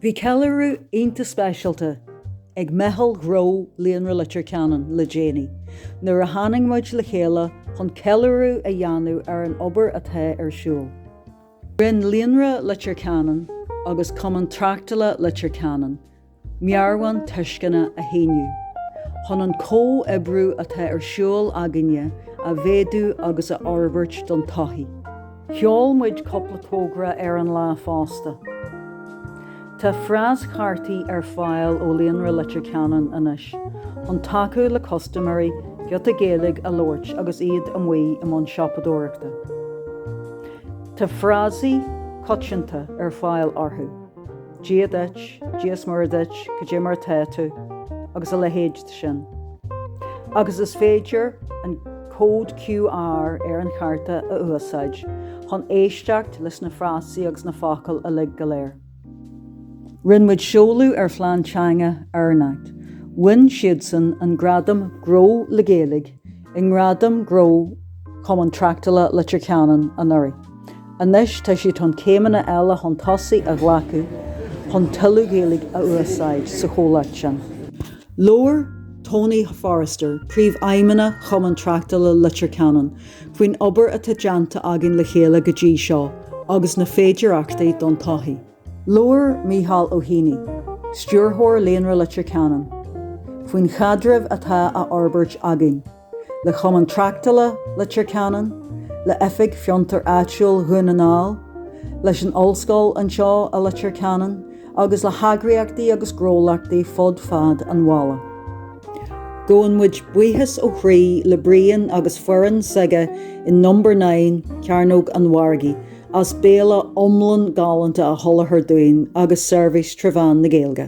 Bhí ceiliúradh iontach speisialta ag meitheal ghnó Líonra Leitir Ceanainn le déanaí nuair a tháining muid le chéile chun ceiliúradh a dhéanamh ar an obair atá ar siúl. Rinn Líonra Leitir Ceanainn agus Cumann Tráchtála Leitir Ceanainn meabhrán tuisceana a shíniú, chun an comhoibriú atá ar siúl againne a mhéadú agus a fhorbairt don todhchaí. Sheol muid cúpla togra ar an lá fosta. Tá fráschártaí ar fáil ó Líonra Leitir Ceanainn anois chun tacú le custaiméirí giota Gaeilge a labhairt agus iad amuigh i mbun siopadóireachta. Tá frásaí coitianta ar fáil orthu. Dia duit, Dia's Muire duit, cad é mar atá tú, agus a leithéid de sin. Agus is féidir an cód QR ar an charta a úsáid chun éisteacht leis na frásaí agus na focail uilig go léir. Rinn muid seoladh ar phlean teanga Ernact. Bhain siadsan an gradam Gnó le Gaeilge i nGradaim gnó Chumann Tráchtála Leitir Ceanainn anuraidh. Anois tá siad chun céimeanna eile chun tosaigh a ghlacadh chun tuilleadh Gaeilge a úsáid sa chomhlacht sin. Labhair Tony Forrester, Príomhfheidhmeannach Chumann Tráchtála Leitir Ceanainn, faoin obair atá déanta againn le chéile go dtí seo agus na féidearthachtaí don todhchaí. Labhair Micheál Ó hÉanaigh, Stiúrthóir Líonra Leitir Ceanainn, faoin chaidreamh atá á fhorbairt againn le Cumann Tráchtála Leitir Ceanainn, le Oifig Fiontair Áitiúil Dhún na nGall, leis an Ollscoil anseo i Leitir Ceanainn agus le heagraíochtaí agus gnólachtaí fud fad an bhaile. Gabhann muid buíochas ó chroí le Brian agus foireann s'aige in Number Nine, Cearnóg an Mhargaidh, as béile iomlán galánta a sholáthar dúinn agus seirbhís trí mheán na Gaeilge.